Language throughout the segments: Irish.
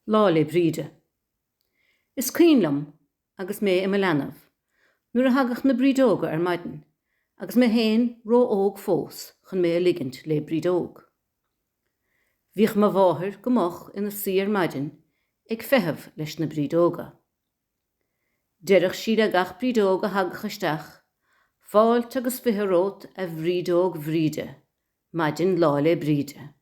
Lá 'le Bríde. Is cuimhin liom agus mé i mo leanbh nuair a thagadh na brídeoga ar maidin agus mé féin ró-óg fós chun mé a ligint le brídeog. Bhíodh mo mháthair go moch ina suí ar maidin ag feitheamh leis na brídeoga. Deireadh sí le gach brídeog a thagadh isteach, Fáilte agus fiche romhat a bhrídeog Bhríde, maidin Lá 'le Bríde.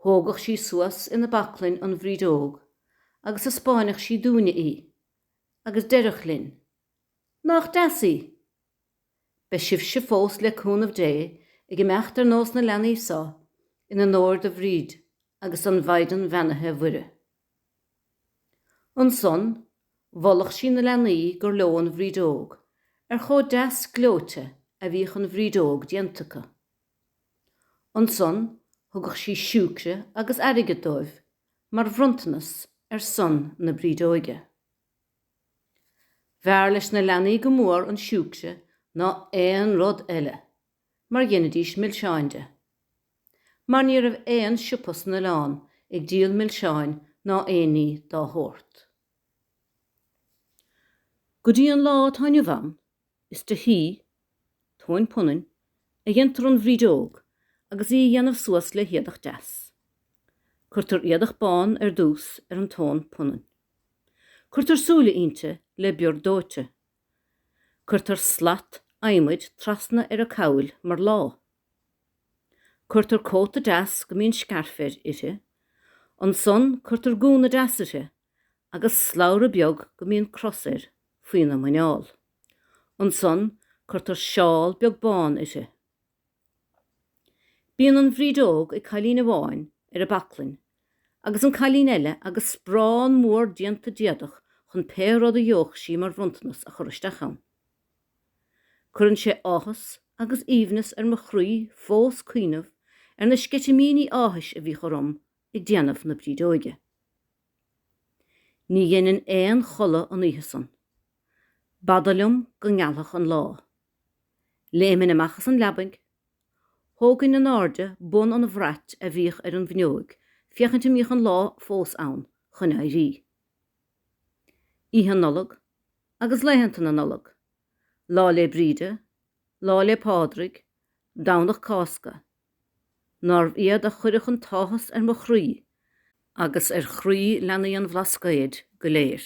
Thógadh sí suas ina baclainn an bhrídeog agus thaispeáineadh sí dúinne í agus deireadh linn, Nach deas í? Beidh sibhse fós le cúnamh Dé ag imeacht ar nós na leanaí so in onóir do Bhríd agus don Mhaighdean Bheannaithe Mhuire. Ansan mholadh sí na leanaí gur leo an bhrídeog, ar chomh deas gleoite a bhíodh an bhrídeog déanta acu. Ansan thugadh sí siúicre agus airgead dóibh mar bhronntanas ar son na brídeoige. B'fhearr leis na leanaí go mór an siúicre ná aon rud eile mar dheinidís milseáin de. Mar ní raibh aon siopa san oileán ag díol milseáin ná aon ní dá shórt. Go dtí an lá atá inniu ann Is de thuí, tóin punainn, a dhéantar an bhrídeog agus í a dhéanamh suas le héadach deas. Cuirtear éadach bán ar dtús ar an tóin punainn. Cuirtear súile inti le bior dóite. Cuirtear slat adhmaid trasna ar a cabhail mar lámha. Cuirtear cóta deas go mbíonn scairf air, uirthi. Ansan cuirtear gúna deas uirthi agus slabhra beag go mbíonn cros air faoina muineál. Ansan cuirtear seál beag bán uirthi. Bíonn an bhrídeog ag cailín amháin ar a baclainn agus an cailín eile agus sparán mór déanta d'éadach chun pé rud a gheobhadh sí mar bhronntanas a chur isteach ann. Cuireann sé áthas agus aoibhneas ar mo chroí fós cuimhneamh ar na sceitimíní áthais a bhíodh orm ag déanamh na brídeoige. Ní dheininn aon chodladh an oíche san. B'fhada liom go ngealfadh an lá. Léiminn amach as an leabaidh. Thógainn in airde bun an bhrait a bhíodh ar an bhfuinneoig féachaint an mbíodh an lá fós ann chun éirí. Oíche Nollag agus laethanta na Nollag, Lá 'le Bríde, Lá 'le Pádraig, Domhnach Cásca, Nárbh iad a chuireadh an t-áthas ar mo chroí agus ar chroí leanaí an Bhlascaoid go léir.